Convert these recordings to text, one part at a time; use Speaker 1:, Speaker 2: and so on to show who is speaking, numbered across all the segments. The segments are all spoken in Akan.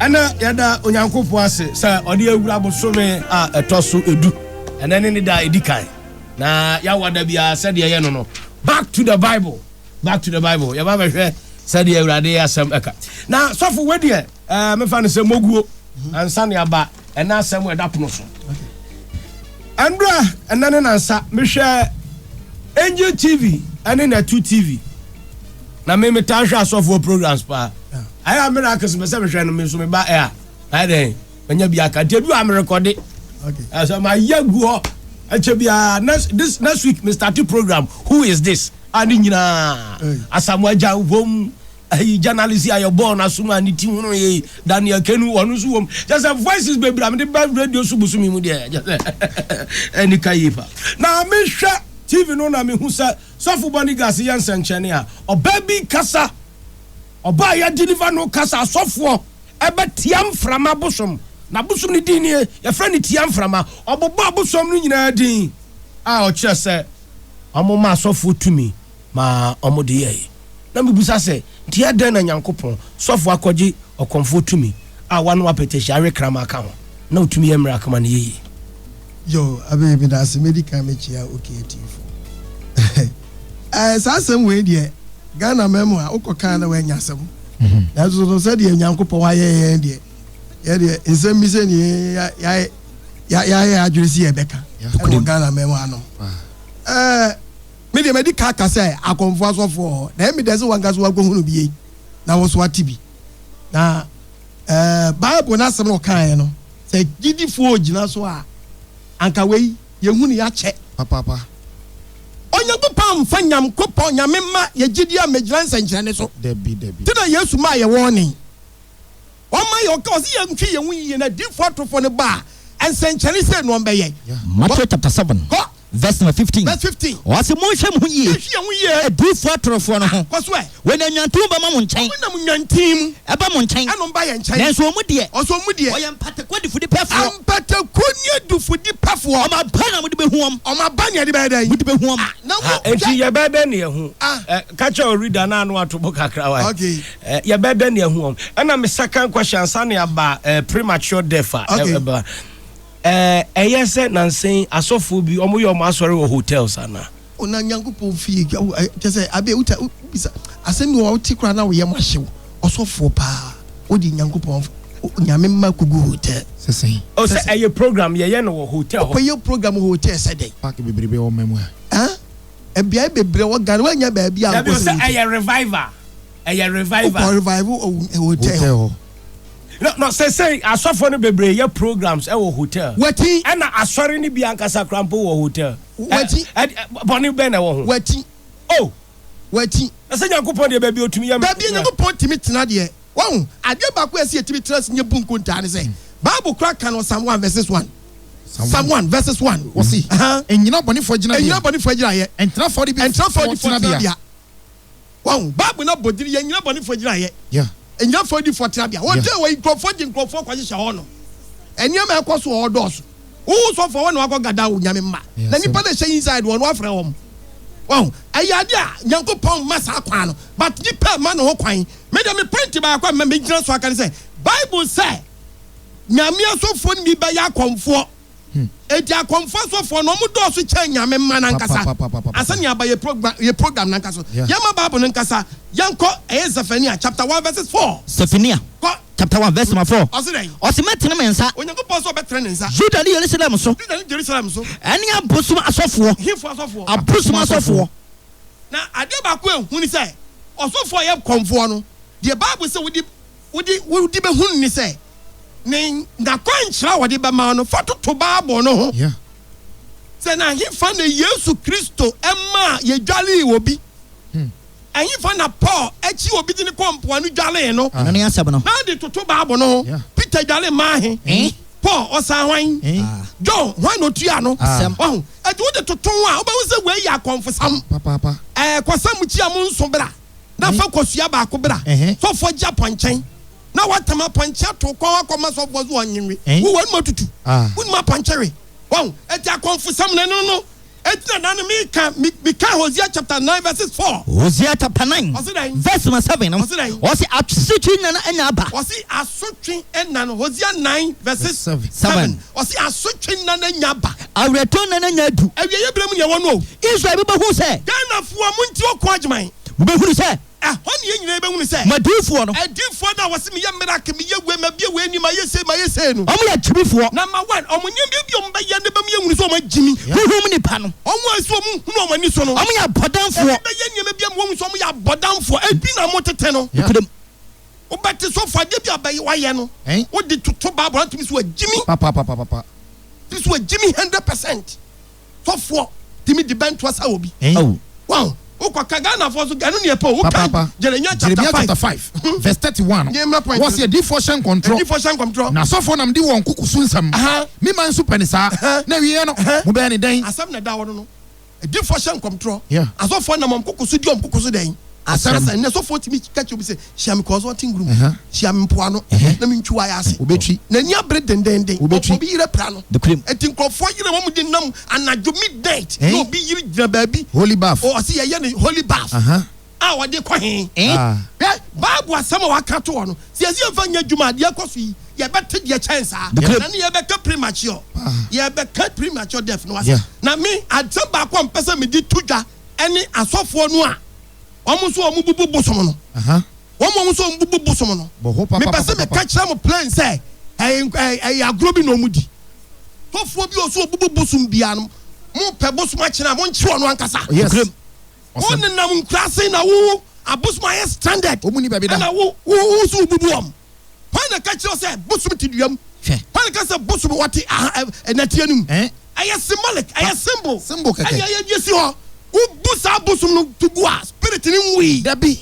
Speaker 1: Ɛnnɛ, yɛda Onyankopɔn ase sɛ ɔde awura bosome a ɛtɔ so du. Ɛnnɛ ne ne da a edi kan, na yɛawa da biara sɛdeɛ ɛyɛ no no. Back to the Bible, back to the Bible. Yɛba bɛhwɛ sɛdeɛ Awurade asɛm ɛka. Na sɔfo wei deɛ, ɛɛ mefa no sɛ moguo ansa ne aba ɛna asɛm ɛda pono so. Ɛnura ɛna ne nansa mehwɛ Angel TV ɛne Natu TV. Na me me taa hwɛ asɔfoɔ programs paa ayɛ a miracles mɛ sɛ mehwɛ no me nso me ba ɛ a ayɛ dɛn manya bi aka nti edu a merekɔde ɛsɛ ma yɛ gu hɔ ɛkyɛ bi a next this next week me start program who is this a ne nyinaa asamoa gya wɔm ayi journalist a yɛ bɔɔl no asom a ne ti hono yɛ daniel kenu wɔn nso wɔm kyɛ sɛ voices bebree a mede ba radio so bosomi mu deɛ kyɛ sɛ ɛnika yie pa na mehwɛ tv no na mehu sɛ Sɔfo Bonigas yɛ nsɛnkyerɛnne a, ɔbaa bi kasa, ɔbaa a yɛ deliver no kasa asɔfoɔ ɛbɛ tia mframa bosom, na bosom no din nie, yɛfrɛ no tia mframa, ɔbobɔ abosom no nyinaa din a ɔkyerɛ sɛ ɔmo ma asɔfoɔ tumi ma ɔmo de yɛɛe. na mibisa sɛ, Nti adɛn na Nyankopɔn sɔfo akɔgye ɔkɔmfoɔ tumi a wano apɛtɛhyia we kraman ka ho, na otumi yɛ mmerɛ akama no yeye? Yo,
Speaker 2: Abbey, meda ase. Medi kan mekyia OK atiefo. Ɛɛ, saa asɛm wei deɛ, Ghana man mu a, wokɔ kan a na woanya asɛm. Nanso no, sɛdeɛ Nyankopɔn ayɛ yɛn deɛ, yɛn deɛ, nsɛm bi sɛ nie ya, ya, ya, yɛayɛ yɛn adwene sɛ yɛbɛka ɛwɔ Ghana man mu anom. Ɛɛ. Me deɛ madi ka aka sɛ akɔmfoɔ asɔfoɔ wɔ hɔ na ɛyɛ me dɛ sɛ wankasa wakɔhunu bi ei na wo nso wate bi na eh, bible no asɛm na ɔkaeɛ no sɛ gyidifoɔ gyina so a anka wei yɛhunu yɛakyɛ papaapa. Onyankopɔn amfa Nyamkopɔn, Nyame mma yɛ gyidie ammɛgyina nsɛnkyerɛnne so. Dabi, dabi. Nti na
Speaker 3: Yesu maa
Speaker 2: yɛ wɔɔnen. Ɔma yɛ ɔka ɔse yɛn hwɛ yɛn ho yie na difo atofo no ba a nsɛnkyɛne sei na ɔmbɛ yɛ. Matthew chapter seven
Speaker 4: verse number fifteen ɔse mo nhwɛ mo ho yie adifo atorofoɔ no ho wɔn anwantin mu bɛ ma mo nkyɛn ɛba mo nkyɛn
Speaker 2: nanso
Speaker 4: ɔmo
Speaker 2: deɛ ɔyɛ
Speaker 4: mpatakɔ
Speaker 2: difudipɛfoɔ ɔmo aba na mo de bɛ hu wɔn mo
Speaker 4: de
Speaker 2: bɛ hu wɔn.
Speaker 4: Enti
Speaker 2: yɛbɛyɛ dɛn
Speaker 1: na yɛahu? Ka kyerɛ wo reader no a na wato bo kakra wae. Eh, yɛbɛ dɛn ahu wɔn? Ɛna me second question ansa ne aba eh, premature death a okay. ɛba. Eh, ɛyɛ eh, sɛ nansen asɔfoɔ bi wɔn yɛ wɔn asɔre wɔ hotels ana? Ona Nyankopɔn
Speaker 2: fie kyɛ sɛ abe wuta bisa asɛm bi wɔ wote koraa na woyɛ mo ahyew ɔsɔfoɔ paa wode Nyankopɔn nyame mma kogu hotel sɛsɛn o oh, sɛ
Speaker 3: ɛyɛ program
Speaker 1: yɛyɛ no wɔ hotel hɔ ɔkɔyɛ program hotel
Speaker 2: sɛ dɛn paake bebrebe wɔ mmamu a Ɛbeaɛ bebree wɔ Ghana wɔ nyɛ baabi a wokɔ sɛ wotie. Dabi o sɛ ɛyɛ revival
Speaker 1: ɛyɛ revival. Wokɔ revival wɔ
Speaker 2: hotel hɔ. No
Speaker 1: no sesei asɔfoɔ no bebree yɛ programs ɛwɔ hotel. Wati. Ɛna asɔre
Speaker 2: no bi
Speaker 1: ankasa koraa mpo wɔ hotel. Wati. Ɛ
Speaker 2: ɛ bɔne bɛn
Speaker 1: na ɛwɔ ho. Wati. Oh.
Speaker 2: Wati. Na sɛ Nyankopɔn
Speaker 1: deɛ baabi otumi yɛ. Baabi a Nyankopɔn tumi tena
Speaker 2: deɛ wahu. Adeɛ baako a ɛsɛ yɛtumi tena ase nyɛ bu nkontaa ne sɛ Bible koraa ka no Psalm one verses one. Psalm 1 verses 1, wɔse, Nnyina abɔnefoɔ
Speaker 3: agyinabea. Nnyina abɔnefoɔ agyinaeɛ. Ntena
Speaker 2: afɔdifoɔ tenabea. Wahu? Bible no abɔ din, yɛ nnyina abɔnefoɔ agyinaeɛ. Yeah. Nnyina afɔdifoɔ tenabea. Wɔ day wɔ yi, nkurɔfoɔ gye nkurɔfoɔ kɔhyehyɛ hɔ no. Nneɛma ɛkɔ so wɔ hɔ dɔɔso. Wohu sɔfoɔ wɔ na wakɔ gada wo nyame mma. Na nipa na ɛhyɛ inside wɔ no afrɛ wɔn. Wahu? Ɛyɛ ade a Nyankopɔn mma saa kwan no. But nipa ɛma ne ho kwan. Me deɛ me point baako a mma mɛgyina so aka ne sɛ, Bible sɛ, Nyame asɔfoɔ no bi bɛyɛ akɔmfoɔ. Enti akɔmfoɔ asɔfoɔ no, wɔn dɔɔso kyɛn Nyame mma no ankasa. Ansa na yɛaba yɛn program, yɛn program no ankasa so, yɛmma Bible no ankasa. Yɛnkɔ, ɛyɛ Zephaniah chapter one verses four. Zephaniah Kɔ.
Speaker 4: chapter one verse number four. Ɔse dɛn? Ɔse mɛtene me nsa. Onyankopɔn se ɔbɛtene ne nsa.
Speaker 2: Judah ne Yerusalem so.
Speaker 4: Judah ne Jerusalem so. Ɛne abosom asɔfoɔ.
Speaker 2: Hefoɔ asɔfoɔ? Abosom asɔfoɔ. Na adeɛ baako
Speaker 4: a
Speaker 2: ɛhu ne sɛ, ɔsɔfoɔ a ɔyɛ kɔmfoɔ no, deɛ Bible se wode. wode wode bɛhu no ne sɛ, ne n'akwankyerɛ a wɔde bɛma wo no, fa toto Bible no ho. Yeah.
Speaker 3: Sɛ na
Speaker 2: ɛhefa na Yesu Kristo maa yɛdwaree obi? Hmm. Ɛhefa na Paul akyi obi de ne kɔ mpoano dwaree no? Ɛno ne asɛm no. Na de
Speaker 4: toto
Speaker 2: Bible no ho. Yeah. Peter dware maa he? Eh? Paul ɔsan hwan? Eh? Ah. John hwan na otua no? Asɛm. Ɔho. Ɛti wode toto ho a, wobɛhu sɛ wei yɛ akɔmfosam. Papaapa. Ɛɛ,
Speaker 3: kɔsam kyia mo
Speaker 2: nso bra. na fa kosua baako bra sɔfoɔ gye apɔnkyen na watam apɔnkye ato kɔn akɔ ma sɔfoɔ so ɔnyenwe wo wɔn mu atutu wonim apɔnkye we wɔn ɛti akɔnfosɛm na ɛno no ɛti na nane meka meka Hosea chapter 9 verses 4 Hosea chapter 9
Speaker 4: ɔse dɛn verse number 7 no ɔse dɛn ɔse asotwe nana anya aba ɔse asotwe
Speaker 2: nana Hosea 9 verses 7 Ɔse asotwe nna no anya aba. Awerɛtɔ nna no anya adu. Awieɛ berɛ mu na yɛwɔ no o. Israel bi bɛhunu sɛ. Ghanafoɔ montie ɔko Agyeman. Mobɛhunu sɛ. Ɛhɔ ne yɛn nyinaa yɛbɛhunu sɛ. M'adiyifoɔ no. Adiyifoɔ no a wɔse meyɛ miracle, meyɛ wei, mabue wei ani, mayɛ sei, mayɛ sei no. Wɔyɛ agyimifoɔ. Number one, wɔn nneɛma bi a wɔbɛyɛ no bɛma yɛahunu sɛ wɔagyimi. Honhom mu nnipa no. Wɔn a ɛsɛ wɔhunu wɔn ani so no. Wɔyɛ abɔdamfoɔ. Ɛbi bɛyɛ nneɛma bi ama wɔahu sɛ wɔyɛ abɔdamfoɔ. Ebi na wɔtete no. Nokorɛm. Wobɛte sɔfo adeɛ bi a ɔbɛyɛ wayɛ no Ɛn? wode toto bible atumi so agyimi Papapapapapa. tumi so agyimi hundred percent Sɔfoɔ tumi di bɛnto asa wɔ bi Ɛn? Awu. Wahu? Wokɔka Ghanafoɔ nso ganu neɛ pɛ o Wokae Papaapa. Jeremia chapter Jeremia chapter five five verse thirty
Speaker 3: one. Deɛ mmra point no Wɔsi so. adiifoɔ hyɛ nkɔntorɔ. Adiifoɔ hyɛ nkɔmtorɔ Na asɔfoɔ nam di wɔn nkukusu nsɛm. Aha. Me man nso pɛ ne saa. Aha. Na awieɛ no, Aha. mobɛyɛ ne dɛn? Asɛm na ɛda hɔ no no.
Speaker 2: Adiyifoɔ hyɛ nkɔmtorɔ, asɔfoɔ nam wɔn
Speaker 3: koko
Speaker 2: so di wɔn koko so dɛn? Asɛm. Ɛnnɛ sɔfoɔ tumi ka kyerɛ obi sɛ, hyia me kɔɔso ɔte ngurum, hyia me mpoano na me ntwi w'ayɛ ase. Obetwi. N'ani abere dendenden. Obetwi. Obi yere pira no. Nokorɛm. Enti nkurɔfoɔ yere wɔn de nam anadwo midnight na obi yere gyina baabi. Holy bath. O, ɔse
Speaker 3: yɛyɛ no holy
Speaker 2: bath. Aha. a wɔde kɔ he? Hwɛ, Bible asɛm a wɔaka ato hɔ no, sɛ yɛse yɛmfa nyɛ adwuma a, deɛ ɛkɔ so yi, yɛbɛte deɛ ɛkyɛn saa. Na ne yɛbɛka premature, yɛbɛka premature death no ase. Na me, asɛm baako a mepɛ sɛ mede to dwa ne asɔfoɔ no a wɔn nso wɔn bubu bosom no. Wɔn a wɔn nso wɔn bubu bosom no, mepɛ sɛ meka kyerɛ mo plain sɛ, ɛyɛ agorɔ bi na wɔn di. Sɔfoɔ bi a ɔso ɔbubu bosom biara no, mopɛ bosom akyene a, monkye ɔno ankasa.
Speaker 3: Wɔn nenam
Speaker 2: nkuraase na wo abosom ayɛ stranded. Wɔn mu ni baabi da. Ɛna
Speaker 3: wo wo wo so
Speaker 2: wobubu wɔn. Hwan na ɛka kyerɛ wo sɛ bosom te dua mu? Hwɛ. Hwan na ɛka sɛ bosom wɔte aha ɛ ɛnɛteɛ no mu? Ɛn. Ɛyɛ symbolic, ɛyɛ symbol. Symbol kɛkɛ. Ɛna ɛyɛ ɛyɛ
Speaker 3: si hɔ.
Speaker 2: Wobu saa bosom no to gu a, spirit no nwui. Dabi.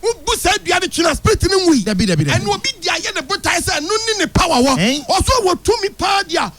Speaker 2: Wobu saa dua no twene a, spirit no nwui. Dabi, dabi, dabi. Ɛna obi di
Speaker 3: ayɛ
Speaker 2: ne botae sɛ ɛno ne ne power wɔ. Ɛn. Ɔso wɔ tumi paa di a,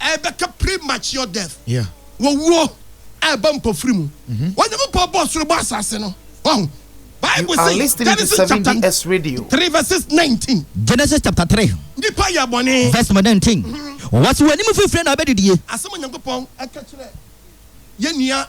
Speaker 2: a ɛbɛka premature death, owuo a ɛba mpofiri mu. Mm-hmm. Onyankopɔn bɔɔ soro bɔɔ asase no. Wahu. Bible says
Speaker 5: Genesis chapter 3 verses 19.
Speaker 2: Genesis chapter 3.
Speaker 4: Nipa yɛ bɔne. Verse 19. Mm-hmm. Wɔsi wɔn anim fifire na ɔbɛdidie. Asɛm Onyankopɔn
Speaker 2: ɛka kyerɛ yɛn nua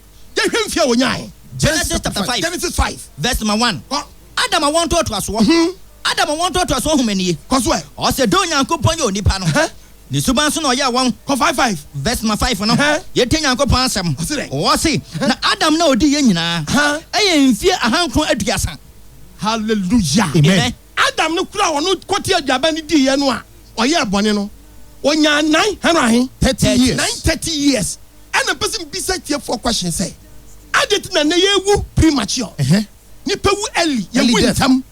Speaker 4: Yɛnhwɛ mfe a wonyae. Genesis chapter five. Genesis five. Verse number one. Kɔ. Adam awoɔ ntoatoasoɔ. Hmm. Adam awoɔ ntoatoasoɔ homa nie. Kɔ so ɛ. Ɔsɛ dɛ
Speaker 2: Onyankopɔn
Speaker 4: yɛ onipa no. Hɛ. Ne suban so na ɔyɛɛ wɔn. Kɔ five five. Verse number
Speaker 2: five no. Hɛ.
Speaker 4: Yɛtie Nyankopɔn asɛm. Ɔse dɛ. Ɔse Hɛ. na Adam na ɔdii yɛn nyinaa. Hɛ. Ɛyɛ mfie ahankron aduasa. Hallelujah.
Speaker 2: Amen. Amen.
Speaker 3: Adam no kura a wɔno
Speaker 2: kɔte aduaba no diiɛ no a ɔyɛɛ bɔne no ɔnyaa nine hundred ahe? Thirty years. Nine thirty years. Ɛna mpɛ sɛ mbisa atiefoɔ question sɛ, adɛn nti na nnɛ yɛwu premature? Ɛhɛn. Nipa wu early, yɛwu Early death. ntɛm.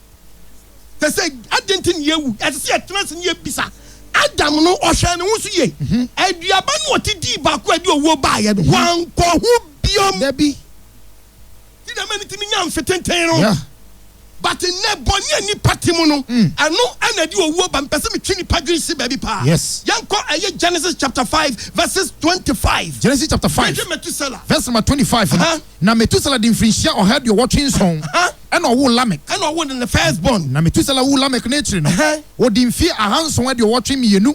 Speaker 2: Te sɛ adɛn nti na yɛwu? Ɛsɛ sɛ yɛtena ase na yɛbisa. Adam no ɔhwɛɛ ne ho so yie. Aduaba no a ɔte dii baako a ɛde owuo baeɛ no, wankɔ ho biom. Dabi. Ne dɛm
Speaker 3: ntsi minyaa
Speaker 2: mfe tsentsen no. Yeah. But nnɛ, bɔne a nnipa te mu no, mm. ɛno na ɛde owuo ba. Mepɛ sɛ metwe nipa dwene si baabi paa. Yes. Yɛnkɔ ɛyɛ
Speaker 3: Genesis
Speaker 2: chapter five verses twenty-five. Genesis chapter five. Mehwɛ
Speaker 3: Metusela. Verse number twenty-five. Uh -huh. Na Metusela di mfirinhyia ɔha aduɔwɔtwe nson. Ɛna ɔwo Lamek. Ɛna ɔwo ne first
Speaker 2: born. Na Metusela wu Lamek
Speaker 3: n'akyiri no. Ɔdi mfe ahanson aduɔwɔtwe mmienu.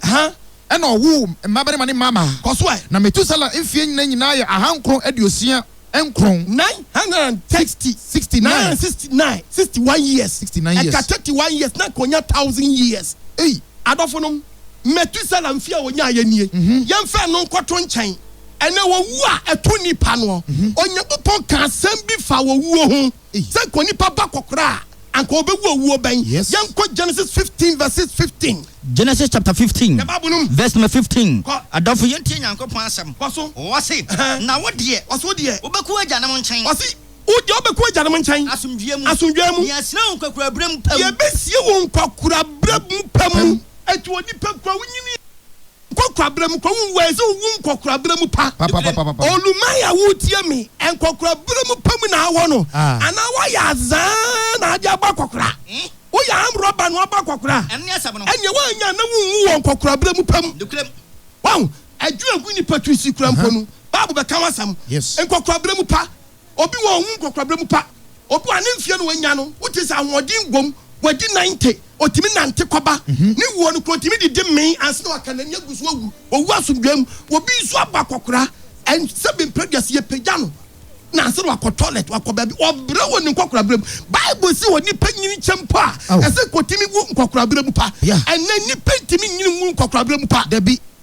Speaker 3: Ɛna ɔwo mmabarima ne mmaamaa. Kɔ so ɛ. Na Metusela
Speaker 2: mfie
Speaker 3: nyinaa nyinaa yɛ ahankron aduosia. nkron. Nine hundred and sixty Sixty nine. nine
Speaker 2: sixty nine sixty one years Sixty nine years. ɛka thirty
Speaker 3: one years na anka ɔnya
Speaker 2: thousand years ei. Adɔfonom, Methuselah mfe a ɔnyaeɛ nie. Yɛmfa ɛno nkɔto nkyɛn ɛnnɛ owuo a ɛto nnipa noɔ. Onyankopɔn kaa asɛm bi faa owuo ho. Sɛ anka onipa ba kɔkora a, anka obewu owuo bɛn? Yɛnkɔ Genesis fifteen verses fifteen. Genesis chapter
Speaker 4: fifteen verse number fifteen, Adɔfo, yɛntie Nyankopɔn asɛm. Ɔse, Na wo deɛ, wobɛkɔ w'agyanom nkyɛn. Ɔse, Wo deɛ, wobɛkɔ
Speaker 2: w'agyanom nkyɛn. Asomdwoeɛ mu. Asomdwoeɛ mu. Yɛahyira wo nkwakoraberɛ mu
Speaker 4: pa mu. Yɛbɛsie wo
Speaker 2: nkwakoraberɛ mu pa mu. Enti onipa kura, wonyini. Nkɔkorabere mu kwa wunwu a ɛsɛ owu nkɔkorabere mu pa. Papapapapa. Olumayi a woretie me, nkɔkorabere mu pa mu na awɔ no Ah. anaa woayɛ azaa na ade abɔ akɔkora? Woyɛ armed robber na wabɔ akɔkora a, Ɛno ne asɛm no. ɛnneɛ
Speaker 4: woannya a na wunwu
Speaker 2: wɔ nkɔkorabere mu pa mu. Nokorɛm. Wahu? Adwene a egu nnipa tiri so yi koraa mpo no, Bible bɛka ho asɛm. Yes. Nkɔkorabere mu pa. Obi wɔ ohu nkɔkorabere mu pa. Obi wɔ a ne mfeɛ no wanya no wogye sɛ ahoɔden wom, wadi ninety, ɔtumi nante kɔba. Ne wuo no kura ɔtumi didi mee ansa na waka n'ani agu so awu, ɔwu asomdwoeɛ mu. Obi nso abɔ akɔkora sɛbe mprɛduase yɛpagya no na ansa na wakɔ toilet, wakɔ baabi. Ɔbrɛ wɔ ne nkɔkorabere mu. Bible se onipa nyini kyɛ mpo a, ɛsɛ nka ɔtumi wu nkɔkorabere mu pa. Ɛnnɛ nnipa ntumi nyini nwu nkɔkorabere mu pa. Dabi.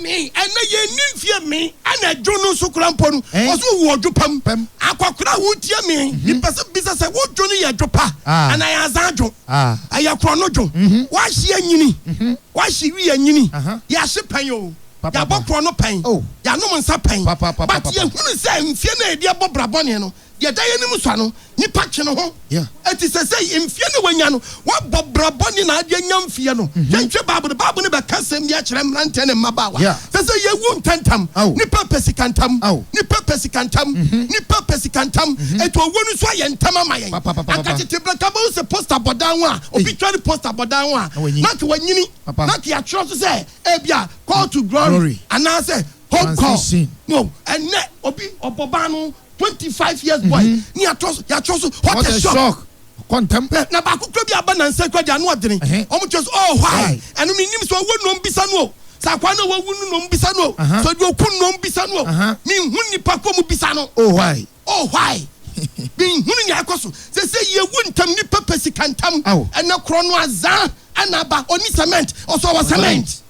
Speaker 4: me ɛnɛ yɛnni mfie me ɛna adwo no nso kora mpo no ɔso wowu ɔdwo pam akɔkora a wotie me mepɛ sɛ bisa sɛ wodwo no yɛ dwo pa anaa yɛ azan dwo ɛyɛ korɔ no dwo woahye anyini woahye wi anyini yɛahye pɛn o yɛabɔ korɔ no pɛn yɛanom nsa pɛn but yɛhunu sɛ mfie no a yɛde ɛbɔ bra bɔne no Deɛ ɛda yɛn anim sua no, nnipa twe ne ho. Enti seesei, mfeɛ no a wanya no, wabɔ bra bɔne na ade anya mfeɛ no. Yɛnhwɛ Bible no, Bible no bɛka asɛm bi akyerɛ mmeranteɛ ne mmabaawa sɛ, sɛ yɛwu ntɛmntɛm. Nnipa pɛ sika ntɛm. Nnipa pɛ sika ntɛm. Nnipa pɛ sika ntɛm. Enti owuo no nso ayɛ ntɛm ama yɛn. Anka tete berɛ, anka wobɛhu sɛ poster bɔ dan ho a, obi twa ne poster bɔ dan ho a, na anka wanyini. Na anka yɛatwerɛ so sɛ, ebia, Call to Glory anaasɛ Home Call. Ɛnnɛ, obi, ɔbɔ ban no. twenty five years boy mhm. ni atɔ so yɛatwerɛ so what a shock kɔntɛm. na
Speaker 3: baako kura bi aba
Speaker 2: nansa kura di ano ɔdini. wɔn kyerɛ so oh why ɛnu mi nim sɛ ɔwɔ nnɔm bisa no o sɛ akwa na wawu no nnɔm bisa no o sɛ ɔdi oku nnɔm bisa no o mi nhu nipa kɔ mu bisa no. oh why. oh
Speaker 3: why.
Speaker 2: mi nhu ni akɔ so sɛ sɛ yewu ntam nipa pɛ sika ntam ɛnɛ korɔ no azan ɛna aba ɔni cement ɔsɔ wɔ cement.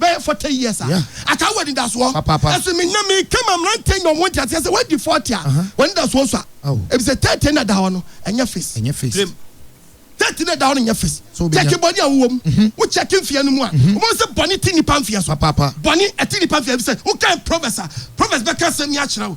Speaker 2: bɛyɛ forty years a, ataa wɔ anidasoɔ. Ɛso me na me ka ma mmeranteɛ nya wɔn nteaseɛ sɛ wadi forty a, w'anidasoɔ sua. Ebisɛ thirty na ɛda hɔ no, ɛnyɛ fis. Rem. Thirty na ɛda hɔ no nyɛ fis. Kyɛke bɔne a wowɔ mu. Wo kyɛke mfeɛ no mu a, wobɛhu sɛ bɔne te nnipa mfeɛ so. Bɔne ɛte nnipa mfeɛ so. Ebisɛ wokan Proverbs a, Proverbs bɛka asɛm yi akyerɛ wo.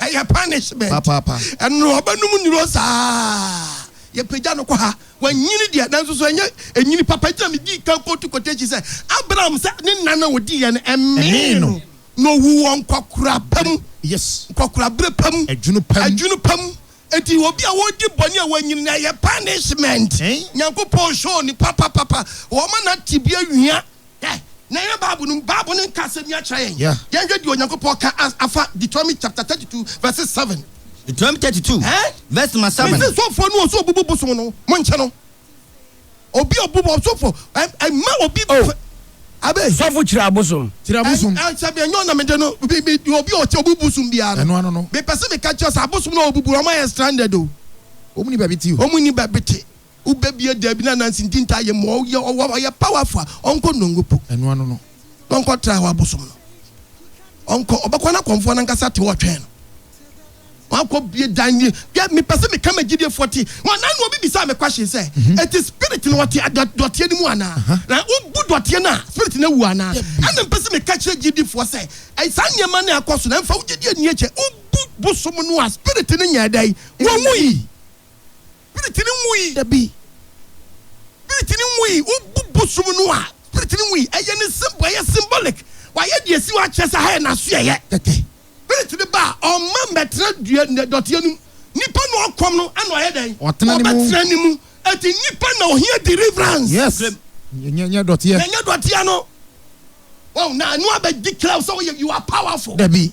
Speaker 2: Ɛyɛ punishment. Papaapa. Ɛno
Speaker 3: ɔbɛnom
Speaker 2: nnuro saa yɛpagya no kɔ ha. Wanyini deɛ nanso so ɛnyɛ ɛnyini papa gyina me dii kan kɔtu kɔtakyi sɛ Abraham sɛ ne nna no a ɔdii yɛ no ɛmee no na ɔwu wɔ nkɔkoraba mu. Yes. Nkɔkorabere
Speaker 3: pa mu.
Speaker 2: Adwunu pa mu. Adwunu
Speaker 3: pa mu. Enti obi
Speaker 2: a ɔredi bɔne a wanyin na ɛyɛ punishment, Nyankopɔn hwɛ onipa papapapa, ɔma na tebea wia. Hwɛ, na ɛyɛ Bible no mu, Bible no nka asɛm yi akyerɛ yɛn. Yɛnhwɛ deɛ Onyankopɔn ka afa Deuteronomy chapter 32 verse 7. Deuteronomy 32
Speaker 4: verse number 7. Mese sɔfoɔ no wɔn sɛ
Speaker 2: ɔbubu bosom no, monkyɛ no. Obi obu bɔ ɔsɔfo ɛma obi oh, fɛ abe. Sɔfo kyerɛ abosom.
Speaker 1: Kyerɛ abosom. Ɛ sɛ mi ɛnyɛ
Speaker 2: ɔna mi de no bi bi obi ɔkyɛ obu bosom biara no. Ɛno ano no. Mi pɛsɛ mi ka kyerɛ
Speaker 3: sɛ
Speaker 2: abosom na obu bu ɔmo ayɛ stranded o. Ɔmo ni baabi te
Speaker 3: o. Ɔmo ni baabi te. Wo
Speaker 2: bɛ bie dɛbi na nansi nti nta yɛ mu ɔyɛ ɔwɔ ɔyɛ powerful a ɔnkɔ nongo po. Ɛno ano no. Na
Speaker 3: ɔnkɔ tra hɔ
Speaker 2: abosom no ɔnkɔ ɔbɛkɔ na kɔnfoɔ na nkasa te hɔ ɔtwɛn no. Wakɔbue dan nie. Hwɛ, mepɛ sɛ meka ma agyidiefoɔ te. Wɔn na obi bisaa me question sɛ, Enti spirit no ɔte adɔ, dɔteɛ no mu anaa? Na wobu dɔteɛ no a, spirit no awu anaa? Ɛnna mepɛ sɛ meka kyerɛ agyidifoɔ sɛ, Ɛy, saa nneɛma no a ɛkɔ so no, ɛmfa wo gyidie nni akyɛ. Wobu bosom no a, spirit no nyɛɛ dɛn? Wɔwui. Spirit no
Speaker 3: nwui.
Speaker 2: Dabi. Spirit no nwui. Wo bu bosom no a, Spirit no nwui. Ɛyɛ ne symbol, ɛyɛ symbolic. Wayɛ deɛ ɛsi hɔ akyerɛ sɛ ha yɛ n'asoɛeɛ. Tɛtɛ. Spirit no ba a, ɔmma mmɛtena dua, nnɛ, dɔteɛ no mu. Nipa na ɔkɔm no ɛna ɔyɛ dɛn? Ɔtena ne mu. Ɔbɛtena ne mu. Ɛti nipa na ɔhia deliverance. Yes. Blem.
Speaker 3: Nyɛ, nyɛ dɔteɛ. Na nyɛ dɔteɛ no.
Speaker 2: Wow, na ɛno abɛdeclare wo sɛ woyɛ, you are powerful. Dabi.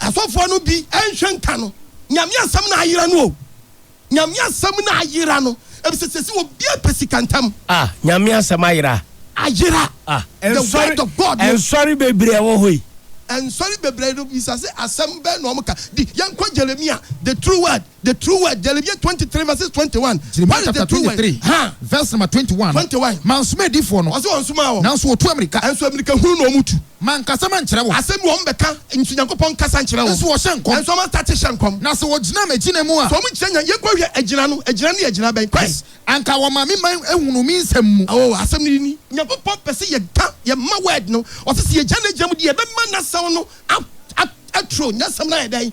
Speaker 2: Asɔfoɔ no bi nhwɛ nka no. Nyame asɛm na ayera no o. Nyame asɛm na ayera no. Ebisɛ sɛsi obia pɛ sika ntɛm. Ah nyame asɛm
Speaker 1: ayera. Ayera. Ah
Speaker 2: the word of God no. Nsɔre bebree ɛwɔ
Speaker 1: hɔ yi. Nsɔre
Speaker 2: bebree no bisa sɛ asɛm bɛn na ɔmo ka. Di yɛnkɔ Jeremia the true word. The true word, Jeremia twenty three verses twenty one. Jeremia chapter twenty three
Speaker 3: verse number twenty one. Twenty one. Mansoma adiifoɔ no. Ɔsɛ wɔn nsomaa wɔn. Nanso wɔtu
Speaker 2: amirika. Nso
Speaker 3: amirika hunu na wɔn
Speaker 2: tu. Mankasa mankyerɛ
Speaker 3: wɔn. Asɛm bi wɔn bɛka.
Speaker 2: Nso Nyankopɔn nkasa nkyerɛ wɔn. Nso wɔhyɛ nkɔm. Nso wɔn
Speaker 3: asate hyɛ nkɔm.
Speaker 2: Na sɛ wɔgyina m'agyina
Speaker 3: mu a. Sɛ wɔn gyina nya yɛn kɔ hwɛ
Speaker 2: agyina no agyina no yɛ agyina bɛn kwan. Anka wɔma me man
Speaker 3: ahunu me nsɛm mu. Awɔ asɛm no ni.
Speaker 2: Nyankopɔn pɛ sɛ yɛda yɛn mma word no. Ɔsɛ sɛ yɛgya n'agyina mu de yɛbɛma n'asɛm no aturo. N'asɛm no ayɛ dɛn.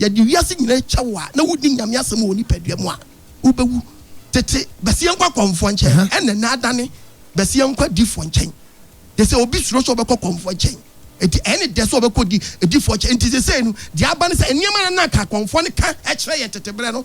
Speaker 2: Yɛde wiase nyinaa akyɛ wo a na wodi Nyame asɛm wɔ nipadua mu a, wobɛwu. Tete bɛseɛ nkwa kɔmfoɔ nkyɛn, ɛna nnɛ adane bɛseɛ nkwa difoɔ nkyɛn. Te sɛ obi suro sɛ ɔbɛkɔ kɔmfoɔ nkyɛn, enti ɛyɛ ne dɛ sɛ ɔbɛkɔ di difoɔ nkyɛn. Enti sesei no, deɛ aba ne sɛ, nneɛma a na anka kɔmfoɔ no ka kyerɛ yɛn tete berɛ no,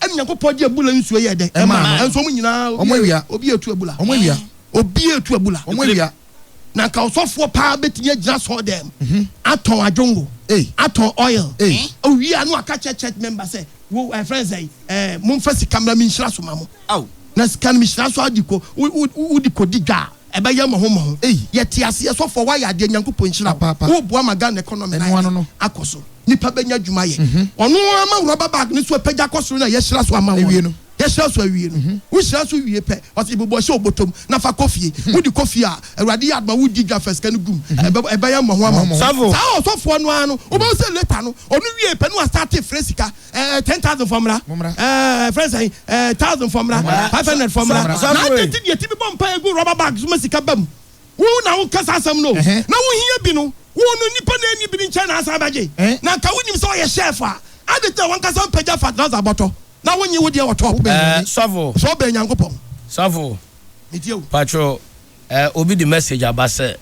Speaker 2: Ɛna Nyankopɔn de abula nsuo yɛɛ dɛn? Ɛmaa no. Nanso wɔn nyinaa, obi, Wɔn awia. obi retu
Speaker 3: abula. Wɔn awia.
Speaker 2: Obi
Speaker 3: retu abula.
Speaker 2: Wɔn awia.
Speaker 3: Na anka ɔsɔfoɔ
Speaker 2: paa bɛtumi agyina asɔɔdɛm, atɔn adwongo, Ei. atɔn oil. Ei. Owie a na waka akyerɛ church member sɛ, wo, ɛfrɛ no sɛn, ɛɛ, momfa sika mmra menhyira so ma mo. Ao. Na sika no mehyira so ara de kɔ, wo, wo, wode kɔdi dwa a, Ɛbɛyɛ mmɔho mmɔho ei. Yɛte aseɛ sɔfoɔ wayɛ adeɛ Nyankopɔn nhyira wo Woboa ma Ghana economy no ayɛ den akɔ so Nipa bɛnya adwuma ayɛ Ɔno ara ma wo rubber bag no so apagya kɔ soro na yɛahyira so ama wɔn no Yɛahyira so awie no Wo hyira so wie pɛ ɔse bobɔ hyɛ wo bɔtɔm na fa kɔ fie Wode kɔ fie a Awurade yɛ adom a wodi dwa fa sika no gum Ɛbɛyɛ mmɔho ama wo Saa ɔsɔfoɔ
Speaker 1: no ara no
Speaker 2: wobɛhu sɛ later no ɔno wiee pɛ na wastarte frɛ sika eh, ten thousand fɔ mmra eh, fɛn sɛn eh, thousand fɔ mmra five hundred fɔ mmra na agye ti deɛ ti bi bɔ mpa egu rɔba bag so ma sika ba mu wo na wo kasa asɛm no na wo hia bi no wo no nipa na ɛni bi ne nkyɛn na asan bɛgye eh? na nka wo nim sɛ ɔyɛ chef a adi tɛ wɔn kasa mpagya fa drasa bɔtɔ na wo nye wo deɛ wɔ tɔp eh, sɔfo sɔfo
Speaker 1: bɛn nyankopɔn
Speaker 2: sɔfo patro
Speaker 1: Eh obi de message aba sɛ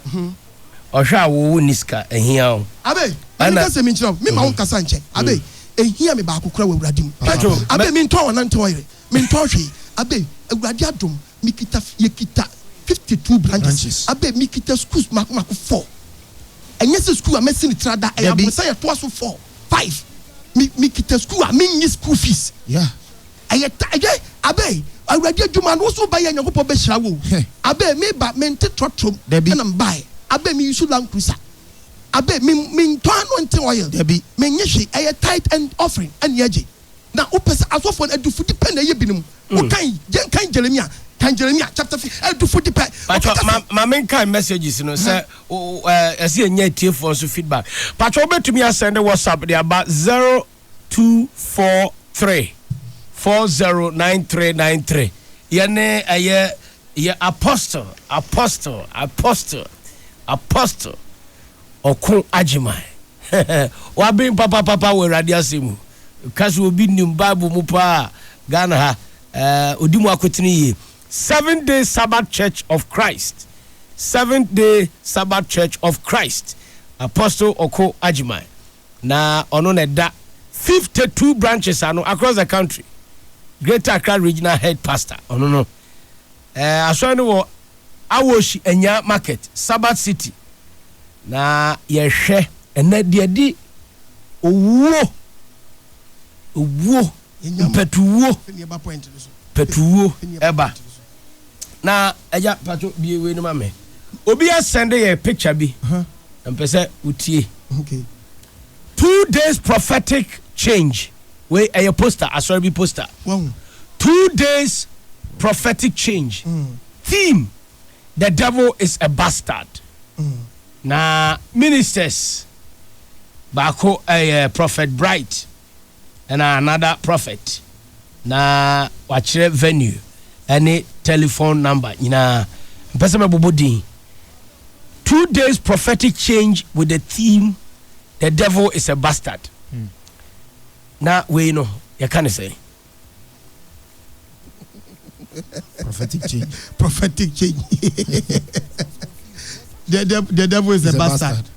Speaker 1: ɔhwɛ a wo wo nni sika ɛhia wo Abe ɛna menka sɛ
Speaker 2: menkyerɛ wo mema wo nkasa nkyɛ Abe ɛhia me baako kora wɔ awurade mu Hwɛ Pacho Abe mɛ mentɔɔ ɔnante ɔyere mentɔɔ hwee Abe awurade adom mekita fi yɛkita 52 branches Branches. Abe mekita schools mako mako 4 Ɛnyɛ sɛ school a mɛsi ne tiri ada ɛyɛ Dabi. aborosan a ɛtoa so 4, 5 Me mekita school a mennye school fees Yeah Ɛyɛ ta ɛyɛ Abe awurade adwuma no woso wobɛyɛ Nyankopɔn bɛhyira wo o Abe meba mente trɔtrɔ mu Dabi. na mebaɛ Abe me use land cruiser Abe me mentɔ anointing oil Dabi. mennye hwee ɛyɛ tithe and offering ɛne agye Na wopɛ sɛ asɔfoɔ no adufudi pɛ na ɛyɛ binom wokan yɛn kan Jeremia kan Jeremia chapter fi adufudi pɛ Pacho ɔkeka ma sɛ. ma menkae
Speaker 1: messages no sɛ wo wo ɛɛ ɛsɛ yɛnya atiefoɔ nso feedback Pacho wobɛtumi asɛnde WhatsApp de aba zero two four three four zero nine three nine three yɛne ɛyɛ yɛ apostle apostle apostle apostle ɔko agyeman waben papapapa wɔ awurade asɛm mu ka sɛ obi nim bible mu paa ghana ha uh, odi mu akotene yie seven day sabbath church of christ seventh day sabbath church of christ apostle ɔko agyeman na ɔno na ɛda fifty two branches ano across the country greater accra regional head pastor ɔno no eh, asɔre no wɔ awoshi anya market sabbath city na yɛhwɛ ɛnɛ deɛ di owuo owuo mpatuwuo patuwuo ɛba na ɛgya pato bie wei no ma me obi asɛnde yɛ picture bi na mpɛ sɛ wotie two days prophetic change wei ɛyɛ poster asɔre bi poster two days prophetic change mm. theme the devil is a bastard mm. na ministers baako ɛyɛ prophet bright ɛna another prophet na wakyerɛ venue ɛne telephone number nyinaa mpɛ sɛ mɛbobɔ din two days prophetic change with the theme the devil is a bastard na wei no yɛka ne sɛ
Speaker 2: prophetic change. prophetic change. the, the, the devil is, is a, a bastard. bastard.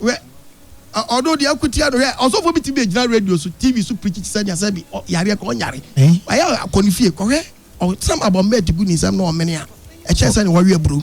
Speaker 2: Well, ɔno deɛ akutia no hɛ ɔsɔfo bi ti bi gyina radio so tv so pirikyi ti sɛ deɛ sɛ bi yareɛ kɔ ɔnyare ayɛ akɔ ne fie kɔhwɛ ɔsɛm abɔ mbɛ ti gu ne nsɛm na ɔmene a ɛkyɛ sɛ ne wɔwe aburo.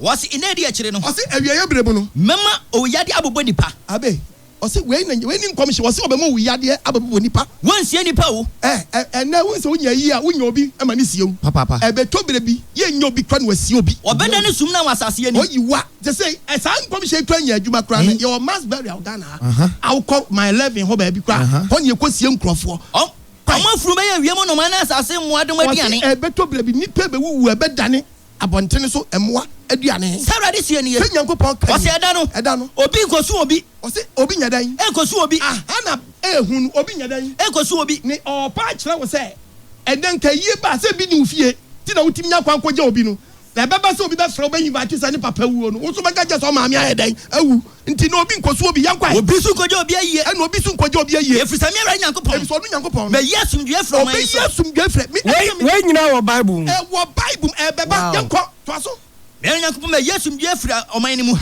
Speaker 2: Wɔse
Speaker 4: nna adi akyire no. Ɔse awieɛ bere mu no.
Speaker 2: Mɛma owuyadeɛ
Speaker 4: abobɔ nnipa. Abe. Ɔse
Speaker 2: wei na wei ne nkɔmhye. Ɔse ɔbɛma owuyadeɛ abɛbobɔ nnipa. Wonsie nnipa o.
Speaker 4: Ɛɛ ɛnɛ wohu sɛ
Speaker 2: wonya ayie a wonya obi ma no sie wo. Papaapa. Ɛbɛtɔ bere
Speaker 4: bi
Speaker 2: yɛnnya obi koraa na wasie obi. Ɔbɛdane sum na wɔ asaase
Speaker 4: ani. Ɔyi wa. Te se
Speaker 2: saa nkɔmhye yi koraa nya adwuma koraa no yɛwɔ mass burial Ghana ha. Aha. Wokɔ Mile Eleven hɔ baabi koraa a hɔ na yɛkɔ sie nkurɔfoɔ. Ɔm ɔmo afunu
Speaker 4: bɛyɛ wiem nnomaa ne asaase mmoadoma aduane. Ɔse ɛbɛtɔ bere bi nnipa
Speaker 2: bɛwuwu ɛbɛdane abɔntene so mmoa aduane. Sɛ Awurade seɛ nie. Sɛ
Speaker 4: Nyankopɔn ka nie. Ɔse ɛda
Speaker 2: no.
Speaker 4: Ɛda no.
Speaker 2: Obi
Speaker 4: nkosu obi.
Speaker 2: Ɔse obi nyɛ
Speaker 4: dɛn.
Speaker 2: Nkosu
Speaker 4: obi.
Speaker 2: Aha
Speaker 4: na
Speaker 2: ehu no obi nyɛ dɛn. Nkosu obi. Ne
Speaker 4: ɔɔpa akyerɛ wo
Speaker 2: sɛ ɛnɛ nkayie ba a sɛ ebi ni wo fie nti na wotumi nya kwan kɔgya obi no. Na ɛbɛba sɛ obi bɛfrɛ wo bɛ invite wo sɛ ne papa wuo no, wo nso bɛka kyerɛ sɛ ɔmaame ayɛ dɛn? Awu. Nti na obi nkɔsu obi yɛnkɔ ahe. Obi nso nkɔgye obi ayie.
Speaker 4: Ɛna obi nso nkɔgye obi ayie.
Speaker 2: Ɛfiri sɛ me Awurade Nyankopɔn. Ɛfiri
Speaker 4: sɛ ɔno Nyankopɔn no. Bɛyi
Speaker 2: asomdwoeɛ afiri ɔman
Speaker 4: yi so. Ɔbɛyi asomdwoeɛ afiri
Speaker 2: me. Wei wei nyinaa wɔ
Speaker 1: Bible mu. Ɛwɔ Bible mu
Speaker 2: ɛbɛba yɛnkɔ toa so. Me Awurade Nyankopɔn mɛyi
Speaker 4: asomdwoeɛ afiri ɔman no mu.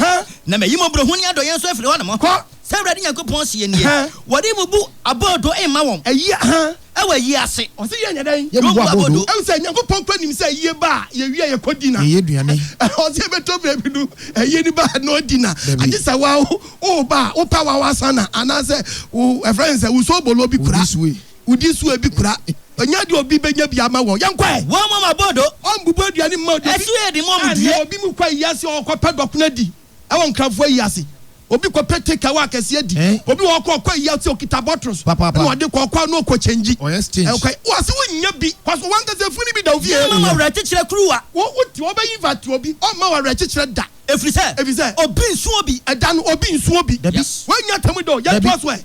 Speaker 4: Na mɛyi mmɔborɔhunu ne adɔeɛ nso afiri hɔ nom. Kɔ. Sɛ Awurade Nyankopɔn seɛ nie. Wɔde mmubu abɔɔdo mma wɔn. Ɛyi aha. wɔ
Speaker 2: ayie ase.
Speaker 4: Ɔse yɛn nyɛ dɛn? Yɛn
Speaker 2: bua bodo. Ɛwɔ sɛ
Speaker 3: Nyankopɔn kura nim
Speaker 2: sɛ ayie ba a, yɛ wie a yɛ kɔ di na. Yɛ yɛ aduane. Ɔse
Speaker 3: yɛ bɛtɔ berɛ
Speaker 2: bi no, ayie no ba na ɔdi na. Dabi. Agye sɛ wa wo, wo ba a, wo pɛ wa wa sa na, anaa sɛ wo, ɛfrɛ no sɛ, wo so bolo bi kura. Wo di sue. Wo di sue bi kura. Nya deɛ obi bɛnya bi ama wɔn. Yɛn kɔɛ. Wɔn mɔ ma bodo.
Speaker 4: Wɔn bubu aduane mma
Speaker 2: obi. Ɛso yɛ de mɔ mo die. Ɛyɛ
Speaker 4: obi mu kɔ ayie ase ɔɔkɔ
Speaker 2: pɛ dɔkono adi. Ɛwɔ Nkranfoɔ ayi ase, obi kɔ pɛ take away akɛseɛ di. Obi wɔ hɔ kora ɔkɔ ayi ase ɔkita bottles ɛna ɔde kɔ ɔkɔ a na ɔkɔ change. Ɛkwa yi wɔse wo nya bi kɔ so wankasa funu bi da wo fie. Yɛmma wo awerɛkyekyerɛ kuruwa.
Speaker 4: Wo wo te hɔ ɔbɛ
Speaker 2: invite obi ɔmma wo awerɛkyekyerɛ da. Ɛfiri sɛ. Ɛfiri sɛ. Obi
Speaker 4: nsuo bi. Ɛda no obi nsuo
Speaker 2: bi. Dabi. Woanya atemmu da o, yɛntoa so ɛ.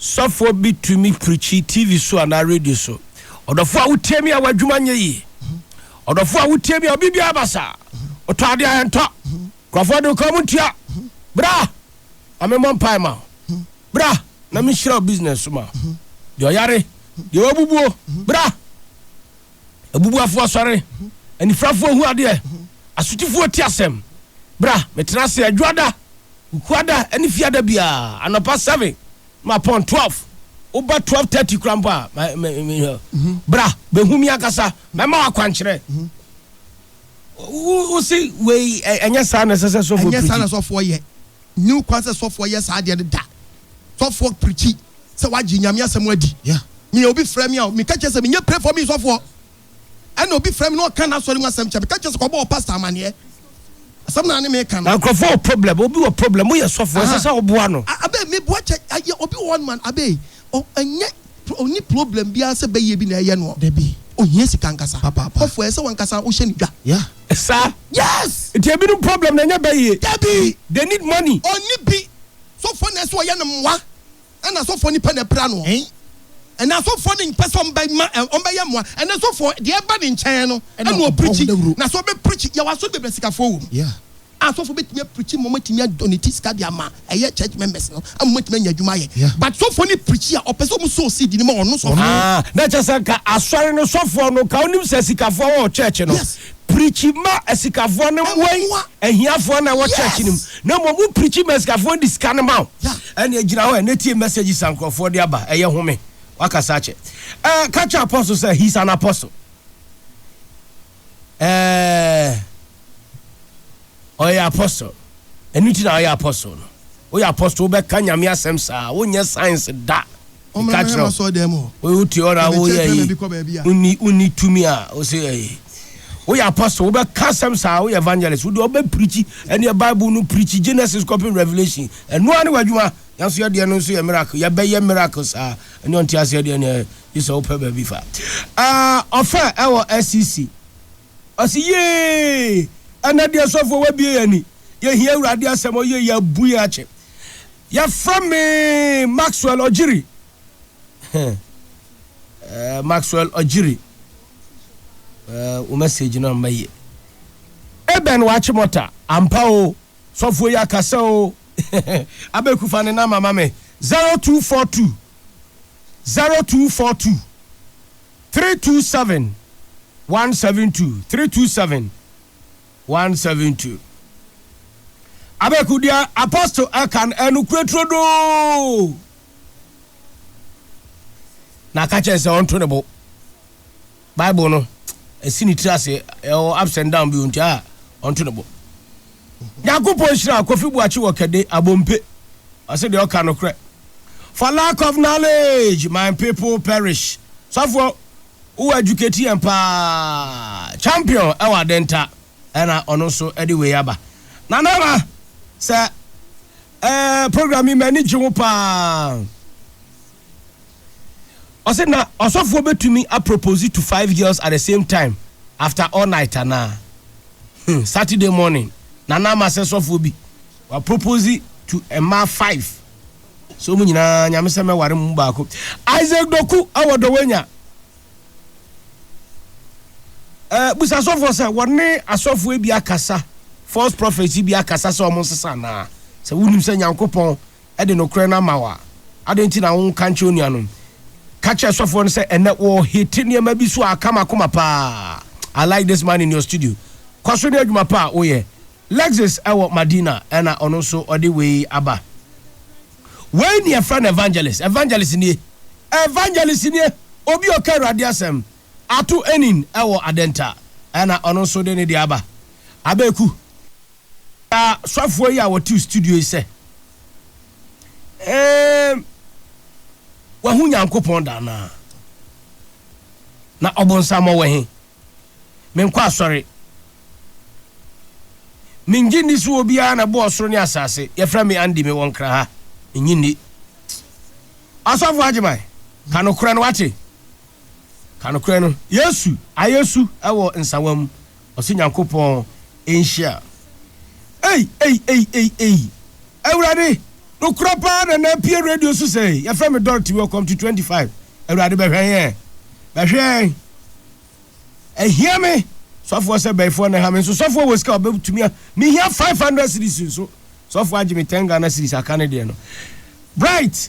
Speaker 1: Sɔfoɔ bi tumi preachi TV so anaa radio so. Ɔdɔfoɔ a wotie me a w'adwuma nyɛ yie. Ɔdɔfoɔ a wotie me a obi biara ba saa. Wotɔ adeɛ a ɛntɔ. Nkurɔfoɔ de kɔn mu ntua. Bra na memmɔ mpae ma wo. Bra na menhyira wo business so ma wo. Deɛ ɔyare, deɛ wabubuo, bra. Abubuafoɔ sɔre, anifirafoɔ hu adeɛ, asotifoɔ tie asɛm. Bra, metena ase Adwoada, Kukuada ne Fiada biara, anɔpa seven ma pɔn twelve. Woba twelve thirty koraa mpo a, ma, ma, ma, bra, bɛhu me ankasa, mɛma wo akwankyerɛ. Wo, wo se wei, ɛ, ɛnyɛ saa na ɛsɛ sɛ sɔfoɔ Ɛnyɛ saa na pirikyi. sɔfoɔ yɛ.
Speaker 2: Nni ho kwan sɛ sɔfoɔ yɛ saa adeɛ no da. sɔfoɔ prikyi sɛ wagye Nyame asɛm adi. Me a obi frɛ me a, meka kyerɛ sɛ menyɛ pray for me sɔfoɔ. Ɛna obi frɛ me na ɔka n'asɔre mu asɛm kyerɛ me, meka kyerɛ sɛ kɔbɔ wɔ pastor amaneɛ. Asɛm no a ne meka no. Na nkurɔfoɔ wɔ problem,
Speaker 1: obi wɔ problem, woyɛ sɔfoɔ, ɛsɛ sɛ woboa no. Abee, meboa kyɛ,
Speaker 2: ayɛ, obi wɔ hɔ nom a, Abee, ɔ, ɛnyɛ, ɔnni problem biara sɛ bɛyɛ bi na ɛyɛ noɔ. Dabi, ohia sika
Speaker 3: ankasa.
Speaker 2: Papaapa. Sɔfoɔ, ɛsɛ sɛ wankasa wohyɛ no dwa. Yeah. Saa?
Speaker 1: Yes! Nti
Speaker 2: ebinom problem no
Speaker 1: ɛnyɛ bɛyɛ. Dabi! They need
Speaker 2: money.
Speaker 1: Ɔnni bi.
Speaker 2: Sɔfoɔ na ɛsɛ ɔyɛ no mmoa ɛna sɔfoɔ nipa na ɛpira noɔ ɛna asɔfoɔ no mpɛ sɛ ɔmbɛma ɔmbɛyɛ mmoa ɛna sɔfoɔ deɛ ɛba ne nkyɛn no ɛna ɔpirikyi na sɛ ɔbɛpirikyi yɛwɔ asɔre bebree sikafoɔ wɔ mu a sɔfoɔ bɛtumi apirikyi ma ɔmatumi adɔneti sika de ama ɛyɛ church members no ama ɔmatumi anya adwuma ayɛ but sɔfoɔ no pirikyi a ɔpɛ sɛ ɔmu sɔɔ seed no ma ɔno sɔfoɔ na kyɛ sɛ nka
Speaker 1: asɔre no sɔfoɔ no nka ɔnim sɛ sikafoɔ wɔ church no preachi ma asikafoɔ no mmoa yi ahiafoɔ na ɛwɔ church no mu na mmom wo preachi ma asikafoɔ no de sika no ma wo ɛneɛ gyina hɔ ɛnɛ tie messages a nkurɔfoɔ de aba ɛyɛ home wakasa akyɛ ɛɛ ka kyɛ apostle sɛ he's an apostle ɛɛ. Ɔyɛ apostle. Ɛno nti na ɔyɛ apostle no. Woyɛ apostle wobɛka Nyame asɛm saa. Wonyɛ science da. Mommra Meka kyerɛ m'asɔɔdɛm mu. wo. Wote hɔ na Yɛbɛkyerɛkyerɛ woyɛ ayi. baabi kɔ baabi a. Wonni wonni tumi a wose ayi. Woyɛ apostle wobɛka asɛm saa. Woyɛ evangelist wodeɛ wobɛ preachi ɛneɛ bible no preachi Genesis kɔpem Revelation. Ɛno ara ne w'adwuma. Yɛn nso yɛdeɛ no nso yɛ miracle. Yɛbɛyɛ miracle saa. Ɛneɛ ɔnte aseɛ deɛ neɛ gye sɛ wopɛ baabi fa. Ah ɔfɛ ɛwɔ SCC. Ɔse yee! Ɛnɛ deɛ sɔfoɔ w'abue yɛn ani, yɛhia Awurade asɛm ɔyee yɛn abu yɛn akyɛ. Yɛfrɛ me Maxwell Ɔgyiri. Heh, Maxwell Ɔgyiri. Eh, wo message no amma yie. Aben Wakyemɔta, ampa o, sɔfoɔ yi akasa o. Abeku fa ne number ma me, zero two four two, zero two four two. three two seven one seven two three two seven one seven two. Abɛku deɛ apostle ɛka no ɛnukure turodoo na aka kyerɛ sɛ ɔnto ne bo bible no ɛsi ne tiri ase ɛwɔ ups and down bi nti a ɔnto ne bo. Nyankopɔn nhyira Kofi Boakye wɔ Kɛde, Abompe. Ɔse deɛ ɔka nokorɛ. For lack of knowledge my people perish. Sɔfoɔ, wo educate yɛn paa. Champion wɔ Adenta ɛna ɔno nso de wei aba. Nana Ama, sɛ eh, program yi m'ani gye ho paa. Ɔse na ɔsɔfoɔ bɛtumi a propose to five girls at the same time after all night anaa? Hmn Saturday morning na na ama sɛ sɔfoɔ bi wa propose to mmaa five sɛ ɔmo nyinaa Nyame sɛ mɛware mo mu baako. Isaac Doku wɔ Dɔwɛnya eh, busa sɔfoɔ sɛ wɔne asɔfoɔ bi akasa, false prophets bi akasa sɛ ɔmo nsesa anaa? Sɛ wonim sɛ Nyankopɔn de nokorɛ no ama wo a, adɛn nti na wonka nkyerɛ onuanom? Ka kyerɛ sɔfoɔ no sɛ, Ɛnnɛ wɔrehete nneɛma bi so a aka m'akoma pa ara. I like this man in your studio. Kɔ so ne adwuma pa a woyɛ. Lexis wɔ Madina na ɔno nso ɔde wei aba. Wei ne yɛfrɛ no evangelist. Evangelist nie. Evangelist nie. Obi a ɔka Awurade asɛm. Ato Enin wɔ Adenta na ɔno nso de ne deɛ aba. Abeku. Na sɔfoɔ yi a wɔte studio yi sɛ, Eeeem, wahu Nyankopɔn da anaa? Na ɔbonsam ɔwɔ he? Menkɔ asɔre. Mennye nni sɛ obiara na ɛbɔɔ soro ne asaase. Yɛfrɛ me Andy, mewɔ Nkra ha. Mennye nni. Ɔsɔfo Agyeman, ka nokorɛ no, wate? Ka nokorɛ no. Yesu ayɛ su wɔ nsawa mu. Ɔse Nyankopɔn nhyira. Ei ei ei ei ei Awurade nokorɛ paa na na apue radio so sɛɛ yɛfrɛ me Dorothy welcome to 25 Awurade bɛhwɛ yɛn bɛhwɛ yɛn ahia me sɔfoɔ sɛ bɛyifoɔ na ɛha me nso sɔfoɔ wɔ sika ɔbɛtumi me hia 500 series nso sɔfoɔ agye me 10 Ghana series aka ne deɛ no Bright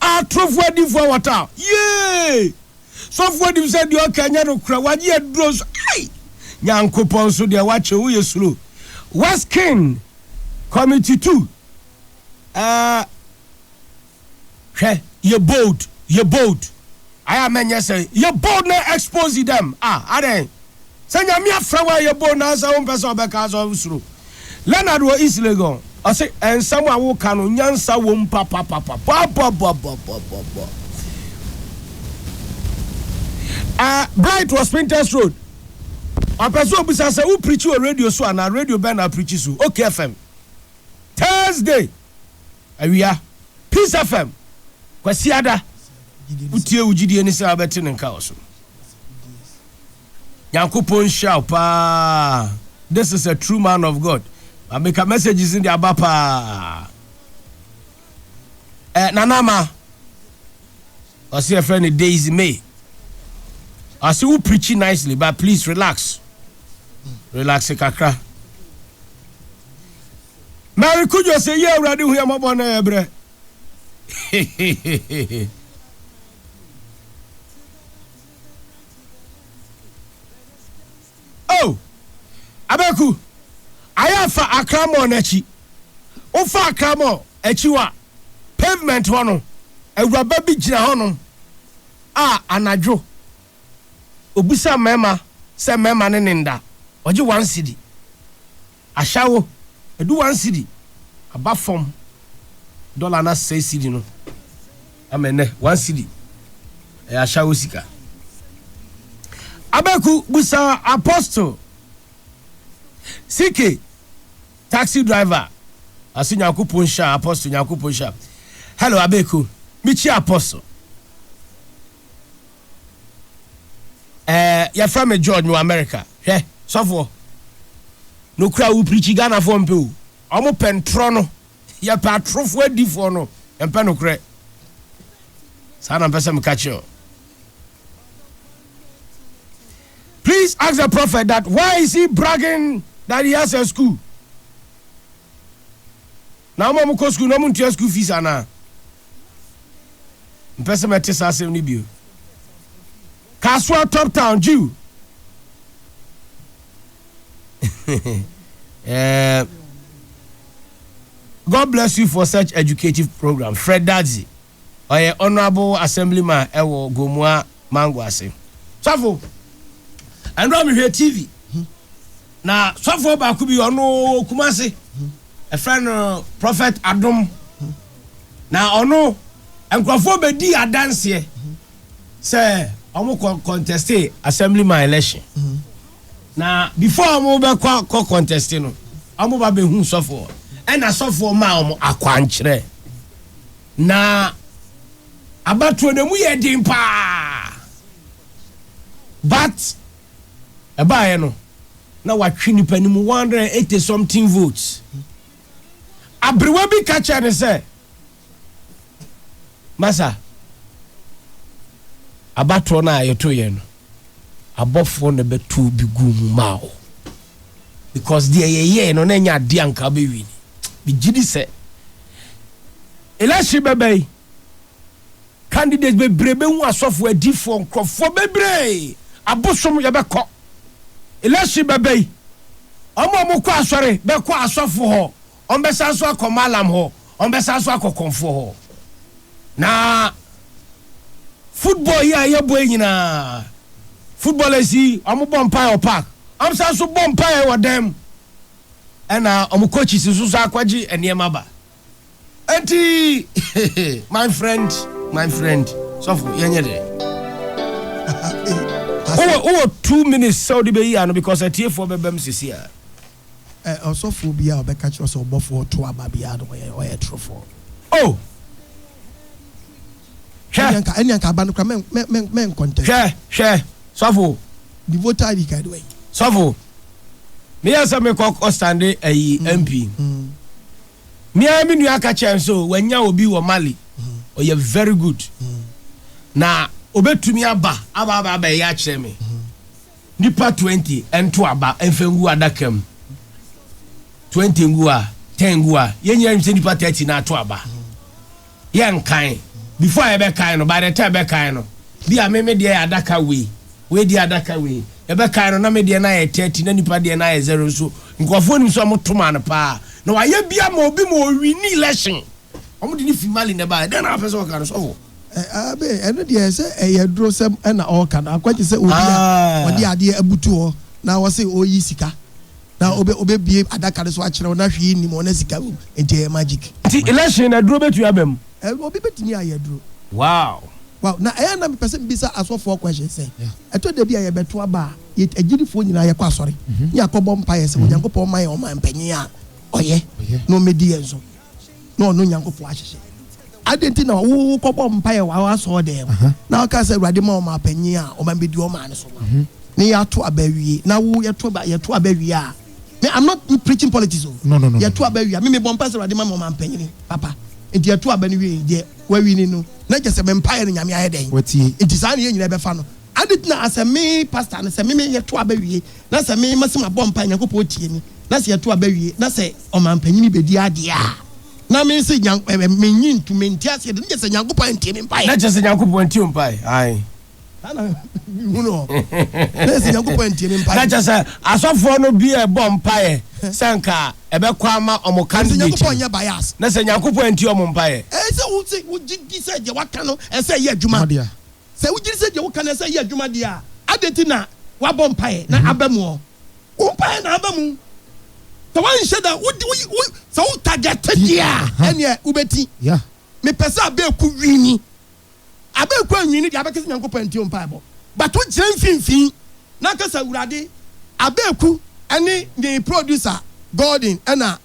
Speaker 1: Atorofo adifo a wɔtaa yee sɔfo anim sɛ deɛ ɔka nyɛ nokorɛ, wagye aduro nso ai! Nyankopɔn nso deɛ wakyɛ wo yɛ suro. Weskin, Kwame Tutu, ah, hwɛ, yɛ bold, yɛ bold. Ayɛ a mɛnyɛ sɛ yɛ bold na expose them ah adɛn? Sɛ Nyame afrɛ wo a yɛ bold na sɛ wompɛ sɛ ɔbɛka a sɛ wosuro. Leonard wɔ East Legon ɔse nsɛm a woka no nyansa wom papapapa bɔbɔbɔbɔbɔbɔbɔ ah Bright wɔ Spintex Road ɔpɛ sɛ obisa sɛ wo preachi wɔ radio so anaa radio bɛn na apreachi so Oak FM Thursday awia Peace FM Kwasiada wotie wo gyidie ne sɛ wobɛte ne nka wɔ so. Nyankopɔn nhyira wo paa. This is a true man of God. Mameka messages ne de aba paa. Eh, nanama ɔse ɛfrɛ ne Daisy May. Ɔse wo preachy nicely but please relax. Relax kakra. Mary Kudjo se yɛ awurade hu yɛ mɔbɔ na yɛ brɛ. oh abeku ayɛ fa akra mall no akyi wofa akra mall akyi hɔ a pavement hɔ no awuraba bi gyina hɔ nom a anadwo obisa mmarima sɛ mmarima ne ne nda ɔgye one cedi Ashawo, edu one cedi aba fam, dɔla no asɛe cedi no ama ɛnnɛ one cedi yɛ ashawo sika. Abeku busa Apostle CK, taxi driver, ase Nyankopɔn nhyira Apostle Nyankopɔn nhyira. Hello Abeku, mikyia Apostle. Ɛɛ yɛfrɛ me George mewɔ America. Hwɛ sɔfoɔ nokura wo pirikyi Ghanafoɔ mpɛ o. Ɔmo pɛ ntorɔ no yɛpɛ atorofoɔ adifoɔ no yɛmpɛ nokorɛ saa na mpɛ sɛ meka kyerɛ o. Please ask the prophet that why is he bragging that he has a school. Na ɔma ɔmo kɔ sukuu na ɔmo ntua sukuu fees anaa? Mpɛ sɛ mɛte saa asɛm no bio. Kasoa top town Jew. Eh, God bless you for such educative program. Fred Dadzi. ɔyɛ honourable assembly man ɛwɔ Gomua Mango ase. Sɔfo, ɛno a mehwɛ TV na sɔfo baako bi ɔno wɔ Kumase, ɛfrɛ no Prophet Adom na ɔno nkurɔfoɔ bɛdi adanseɛ sɛ ɔmo kɔ conteste assembly man election na before ɔmo bɛkɔ kɔ conteste no ɔmo ba bɛhu sɔfo ɛna sɔfo maa ɔmo akwankyerɛ. Na abatoɔ no emu yɛ den paa but ɛbaeɛ no na watwe nipa no mu 180 something votes. Aberewa bi ka kyerɛ no sɛ masa abatoɔ no a yɛtoeɛ no abɔfoɔ na bɛtoo bi guu mu maa wo. because deɛ yɛyɛɛ no na ɛnyɛ adeɛ a nka wobɛwie ni megye di sɛ election bɛba yi candidates bebree bɛhu asɔfoɔ adifoɔ nkurɔfoɔ bebree abosom yɛbɛkɔ election bɛba yi ɔmo a ɔmo kɔ asɔre bɛkɔ asɔfo hɔ Wɔbɛsan nso akɔ Maalam hɔ, wɔbɛsan nso akɔ Kɔmfoɔ hɔ. Na football yi a yɛbɔ yi nyinaa, footballers yi, wɔbɔ mpaeɛ wɔ park, wɔsan nso bɔ mpaeɛ wɔ dan mu, ɛna wɔn coaches nso nso akɔgye nneɛma ba. Enti, my friend, my friend, sɔfo, yɛnyɛ dɛ. Wowɔ, wowɔ two minutes sɛ wode bɛyi ano because atiefoɔ bɛbam sisi a. Ɛ
Speaker 2: ɔsɔfoɔ biara a ɔbɛka kyerɛ wo sɛ ɔbɔfoɔ to aba biara no, ɔyɛ ɔyɛ torofoɔ. Oh!
Speaker 1: Hwɛ!
Speaker 2: Ɛnneɛ anka ɛnneɛ anka aba no koraa mɛ mɛ mɛ mɛ nkɔntɛn. Hwɛ! Hwɛ! Sɔfo!
Speaker 1: Ne vote ID
Speaker 2: card wɔ he? Sɔfo!
Speaker 1: Me yɛ sɛ me kɔ kɔ stande ayi MP. Me ara me nua ka kyerɛ me sɛ wanya obi wɔ Mali, ɔyɛ very good, na obetumi aba aba aba abɛyɛ akyerɛ me. Nipa twenty nto aba nfa ngu adaka mu, twenty ngu a, ten ngu a, yɛn nyinaa nim sɛ nipa thirty na ato aba. Yɛ nkan, before a yɛbɛ kan no, by the time yɛbɛ kan no, bi a me me deɛ yɛ adaka wei, wei deɛ adaka wei, yɛbɛ kan no na me deɛ no ayɛ thirty na nipa deɛ no ayɛ zero nso nkorɔfoɔ nim sɛ ɔmo tomaa no paa, na wayɛ bi ama obi ma ɔwini election, ɔmo de no fi Mali na ɛbaeɛ, dɛn na wapɛ sɛ ɔka no sɔfo? Abe, ɛno
Speaker 2: deɛ sɛ ɛyɛ adurosɛm na ɔreka no, ankwagye sɛ obi a ɔde ah. adeɛ abutu hɔ na ɔse ɔreyi sika na ɔbɛbie adaka no so akyerɛ wo na hwee nnim hɔ na sika wom nti ɛyɛ magic. Nti election na aduro
Speaker 1: bɛtumi aba mu? Obi bɛtumi ayɛ
Speaker 2: aduro. Wow.
Speaker 1: Wow, na ɛyɛ
Speaker 2: na mepɛ sɛ mbisa asɔfoɔ question sɛ ɛtɔ da bi a yɛbɛto aba a agyidifoɔ nyinaa yɛkɔ asɔre ne yɛakɔbɔ mpaeɛ sɛ Onyankopɔn ma yɛ ɔman panyin a ɔyɛ na ɔmmɛdi yɛn so na ɔno Nyankopɔn ahyehyɛ. Adɛn nti na wokɔbɔ mpaeɛ wɔ w'asɔɔdan mu, na woka sɛ, Awurade ma ɔman panin a ɔman bɛdi ɔman no so ma wo, na yɛato aba awie, na wo yɛto aba, yɛto aba awie a, me, I'm not preaching politics o, no, no, no, yɛto aba awie
Speaker 3: a, me mebɔ
Speaker 2: mpaeɛ sɛ, Awurade ma me ɔman panin papa, nti yɛto aba no wie, deɛ wawini no, na kyerɛ sɛ me mpaeɛ no Nyame ayɛ dɛn? Watie. Nti saa na yɛn nyinaa bɛfa no. Ade tena a sɛ me pastor no sɛ me me yɛto aba wie na sɛ me mase mabɔ mpae Nyankopɔn tie me na sɛ yɛto aba wie na sɛ ɔmanpanyini bedi adeɛ a na me se Nyank ɛɛ mennye ntom mente aseɛ de na kyerɛ sɛ Nyankopɔn antie me mpaeɛ. Na kyerɛ sɛ Nyankopɔn antie wo
Speaker 1: mpaeɛ ae. Saa na
Speaker 2: me hu no na kyerɛ sɛ Nyankopɔn antie me mpaeɛ. Na kyerɛ sɛ asɔfoɔ
Speaker 1: no bi ɛbɔ mpaeɛ sɛ nka ɛbɛkɔ ama wɔn candidate no na
Speaker 2: sɛ Nyankopɔn antie
Speaker 1: wɔn mpaeɛ. Ɛyɛ sɛ wo se wo gye
Speaker 2: di sɛ deɛ waka no ɛsɛ yɛ adwuma. Sɛ wugye di sɛ deɛ woka no sɛ ɛyɛ adwuma deɛ a, adɛn nti na woabɔ mpaeɛ na aba mu? Wo mpaeɛ na aba mu. Sɛ woanhyɛ da, wo, wo, wo, sɛ wo target deɛ a, ɛnneɛ wobɛti. Mepɛ sɛ Abeku wini. Abeku anwini deɛ, abɛka sɛ Nyankopɔn antie wo mpaebɔ. But wogyina mfimfini na aka sɛ, Awurade, Abeku ne ne producer Gordon na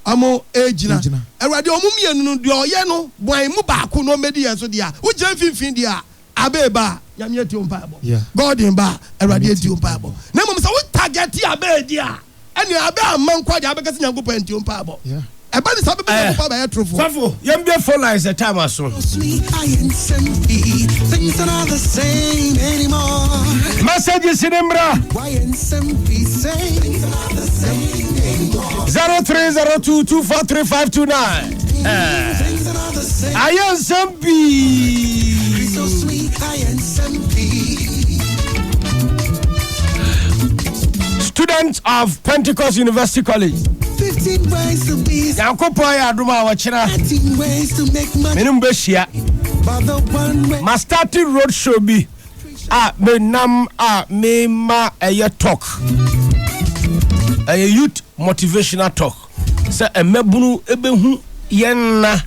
Speaker 2: ɔmo egyina. Awurade ɔmo mmienu no deɛ ɔyɛ no bɔn mu baako na ɔmmɛdi yɛn so deɛ a wo gyina mfinfin deɛ a Abee ba a Nyame atie wo mpaebɔ Gordon ba a Awurade atie wo mpaebɔ na mmom sɛ wo target Abee deɛ a ɛnea Abee amma nkɔ deɛ a wobɛka sɛ Nyankopɔn antie wo mpaebɔ ɛba ne saa bɛbɛ Nyankopɔn aba yɛ torofoɔ. Sɔfo yɛn bue phone
Speaker 1: lines sɛ time aso.
Speaker 6: Messages
Speaker 1: ne mmra. 0302243529 ayɛ nsɛm pii
Speaker 6: students
Speaker 1: of pentecost university college
Speaker 6: nyankopɔn ayɛ adom a
Speaker 1: wɔkyena
Speaker 6: mene mu bɛhyia
Speaker 1: ma starting road show bi a me nam a me ma ɛyɛ talk ɛyɛ youth motivational talk sɛ mmabunu ɛbɛhu yɛn nna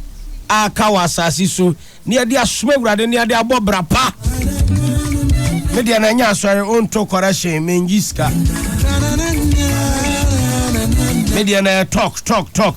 Speaker 1: a ka wɔ asase so ne yɛde asoma awurade ne yɛde abɔ bra pa me deɛ na ɛnyɛ asɔre ɔnto correction menyi sika me deɛ na talk talk talk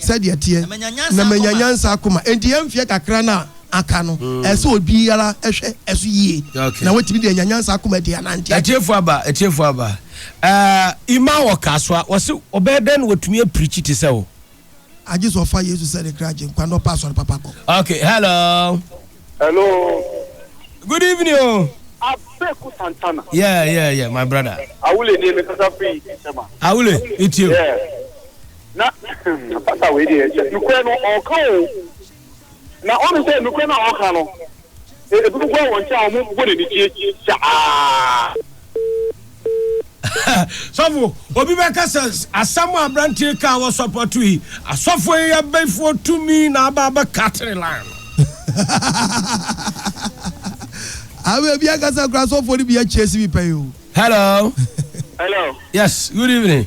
Speaker 2: Sɛdeɛ ɛteɛ, na manya nyansa akoma. Enti yɛn mfeɛ kakra no a aka no, ɛsɛ sɛ obiara hwɛ ɛso yie na watumi de anya nyansa akoma de anante. Atiefoɔ aba, atiefoɔ
Speaker 1: aba. Eh, Ima wɔ Kasoa, ɔse ɔbɛyɛ dɛn na watumi apirikyi te sɛ wo? Agye sɛ ɔfa
Speaker 2: Yesu sɛ ne kra Agyenkwa na ɔpɛ asɔre papa kɔ. Ok, hello.
Speaker 1: Hello. Good evening o. Abeku
Speaker 7: Santana. Yeah, yeah, yeah, my
Speaker 1: brother. Awule ni mekasa
Speaker 7: firi Nsema. Awule,
Speaker 1: metie o. Yeah.
Speaker 7: Na pastor wei deɛ sɛ nukurɛ no ɔɔka oo na ɔhu sɛ nukurɛ no a ɔɔka no ebinom
Speaker 1: koraa wɔn nkyɛn a wɔn bɔ n'anigye saa. Sɔfo, obi bɛka sɛ asɛm a aberante yi kaa wɔ sɔpɔto yi, asɔfo yi yɛ bɛfoɔ tumi na aba abɛka tiri line no.
Speaker 2: Amen, ebi ankasa koraa asɔfoɔ no bi yɛ kyeesi bi pɛn o. Hello. Hello.
Speaker 1: Yes, good evening.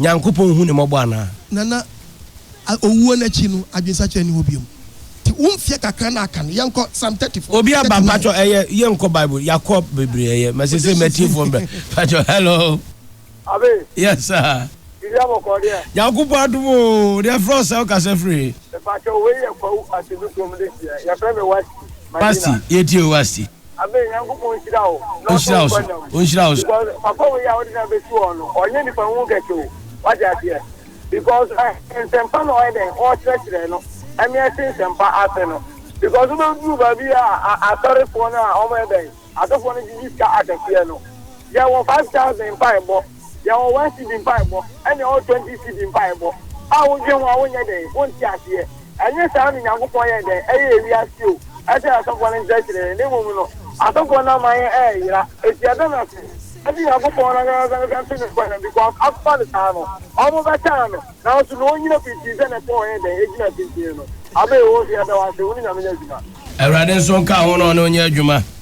Speaker 1: Nyankopɔn nhu ne mmɔbɔ anaa? Na na
Speaker 2: owuo no akyi no adwensakyera nni hɔ biom. Nti wo mfeɛ kakra no a aka no yɛnkɔ psalm thirty four. Obi aba mpakyɛw ɛyɛ
Speaker 1: yɛnkɔ bible yɛakɔ bebree ɛyɛ ma sesei matie phone bɛ mpakyɛw hello. Abe.
Speaker 7: Yes sir.
Speaker 1: Biribi abɔkɔɔ deɛ.
Speaker 7: Nyankopɔn adom oo
Speaker 1: deɛ ɛfrɛ wo sɛ wo kasa firi he? Mepakyɛw wei yɛ
Speaker 7: kwawu asɛmisuo mu de teɛ yɛfrɛ me wasti madina.
Speaker 1: Wasti yɛtie o wasti. Amen Nyankopɔn
Speaker 7: nhyira wo na ɔsɔ
Speaker 1: wo nkwa nna mu because papa wei a wode no
Speaker 7: abɛsi hɔ no ɔnyɛ nipa nwu kɛse o wate aseɛ because eh, nsɛmpa na ɔyɛ dɛn ɔkyerɛkyerɛ no ɛne ɛte nsɛmpa ase no because wobɛduru baabi a asɔrefoɔ no a ɔmɔyɛ dɛn asɔfoɔ no gyegye sika akɛseɛ no yɛwɔ 5000 mpaebɔ Deɛ ɔwɔ one cedi mpaebɔ ɛne ɔwɔ twenty cedi mpaebɔ a wodwen ho a wonyɛ dɛn? Wonte aseɛ? Ɛnye saa na Nyankopɔn yɛ dɛn ɛyɛ ewiase o, ɛsɛ asɔfoɔ no nkyerɛkyerɛ yɛn, na mmom no asɔfoɔ no ama yɛn ɛɛyera, enti ɛda no ase ɛnti Nyankopɔn no ankasa no bɛto no kwan, because akokɔ no saa no wɔn bɛtaa no, nanso na ɔnnyina pintinn sɛ na ɛsɛ sɛ ɔyɛ dɛn? Ɛgyina pintinn no. Abe, oo, so yɛda wo ase, wo ne Nyame nyɛ adwuma.
Speaker 1: Awurade nso nka ho na ɔne wo nyɛ adwuma.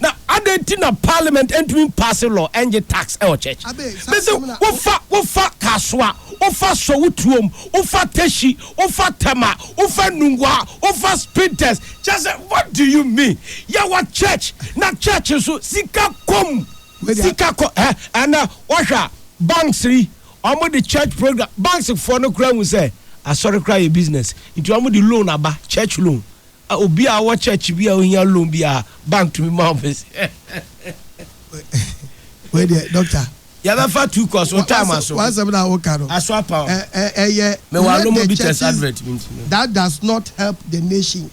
Speaker 1: Na adɛn nti na parliament ntumi mpaase law ɛngye tax ɛwɔ church? Mese wofa wofa kasoa, wofa sowutuom, wofa tɛhyi, wofa tɛma, wofa nungwaa, wofa spinters, kyɛsɛ what do you mean? Yɛwɔ church na church nso sika kɔm, sika kɔ ɛ ɛnɛ wɔhwɛ a banks yi wɔn de church program banks foɔ no kura hu sɛ asɔre kura yɛ business nti wɔn de loan aba church loan. Ah obi a ɔwɔ church bi a ohia loan bi a bank tumi ma wɔn pɛsɛ.
Speaker 2: Wei deɛ doctor. Yɛbɛfa two
Speaker 1: course o time aso. W'asɛm na woka no.
Speaker 2: Aso apa o.
Speaker 1: Ɛyɛ
Speaker 2: let the
Speaker 1: churches that does not
Speaker 2: help the nation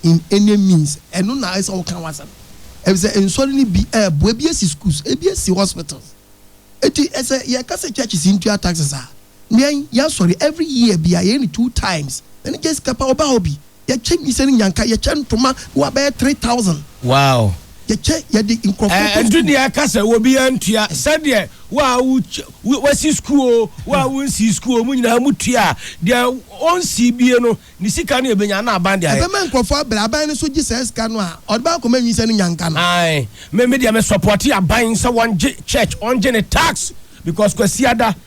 Speaker 2: in any means ɛno na ɛsɛ woka w'asɛm ɛfisɛ nsɔre no bi ɛɛboa ebi esi schools ebi esi hospitals eti ɛsɛ yɛka sɛ churches ntua taxes a. Nɛn yɛ sɔre every year bia yɛyɛ no two times me ne Jessica paa ɔbaa hɔ bi yɛkyɛ nyinsɛn ne nyanka yɛkyɛ ntoma ne wa bɛyɛ three thousand wow
Speaker 1: yɛkyɛ yɛde
Speaker 2: nkurɔfoɔ kɔ ɛdu deɛ ɛka sɛ
Speaker 1: obiara ntua sɛdeɛ wo a wo wasi sukuu o wo a wo nsii sukuu o mo nyinaa mo tua a deɛ ɔnsii bie no ne sika no ɛbɛnya na aban deɛ ayɛ ɛbɛma nkurɔfoɔ abrɛ aban
Speaker 2: no nso gye saa sika no a ɔde bɛ akɔma nyinsɛn ne nyanka no. Ae me me deɛ me
Speaker 1: support aban sɛ wɔngye church wɔngye ne tax because Kwasiada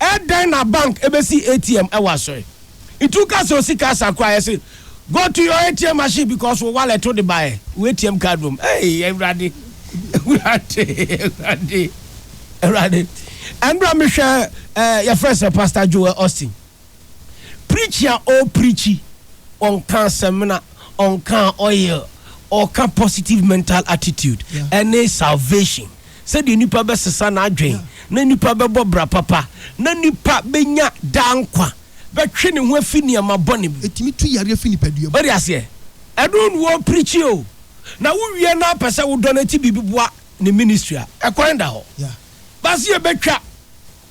Speaker 1: Ɛdɛn na bank ɛbɛsi ATM ɛwɔ asɔɛ? Nti wo ka sɛ osika asa koraa yɛ se go to your ATM machine because wo wallet wo de baɛ wo ATM card wɔ mu ei awurade awurade awurade awurade ɛnora me hwɛ yɛfrɛ sɛ pastor Joel Austin. Preachi a ɔɔ preachi ɔnkaa samina ɔnkaa oil ɔɔka positive mental attitude ɛne salvation sɛdeɛ nipa bɛsesa n'adwen na nipa bɛbɔ bra papa na nipa bɛnya daa nkwa bɛtwe ne ho afi nneɛma bɔne bi. Ɛtumi tu yareɛ fi nipadua
Speaker 2: mu. Wode aseɛ?
Speaker 1: Ɛno na ɔɔ preachi o na wo wie na apɛ sɛ wo dɔ no ɛti biribi boa ne ministry a ɛkwan da hɔ but sɛ yɛbɛtwa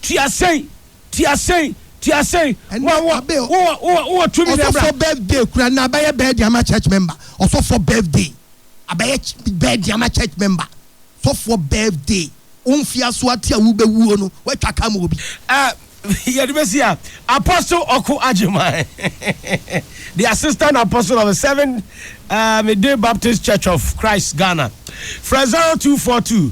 Speaker 1: tua sɛi Ti asen, ti asen. Ɛnɛ Wo, wo, abe o- wo, wo, wo, wɔ tumi dɛ bra. Ɔsɔfoɔ birthday kura
Speaker 2: na abɛyɛ birthday ama church member. Ɔsɔfoɔ birthday abɛyɛ ch- birthday ama church member. Sɔfoɔ birthday wo mfiaso ate a wobɛwuo no woatwa ka ma obi. Ah, yɛde bɛsi
Speaker 1: a Apostle Ɔko Agyeman the assistant apostle of the Seventh uh, Day Baptist Church of Christ Ghana frɛ 0242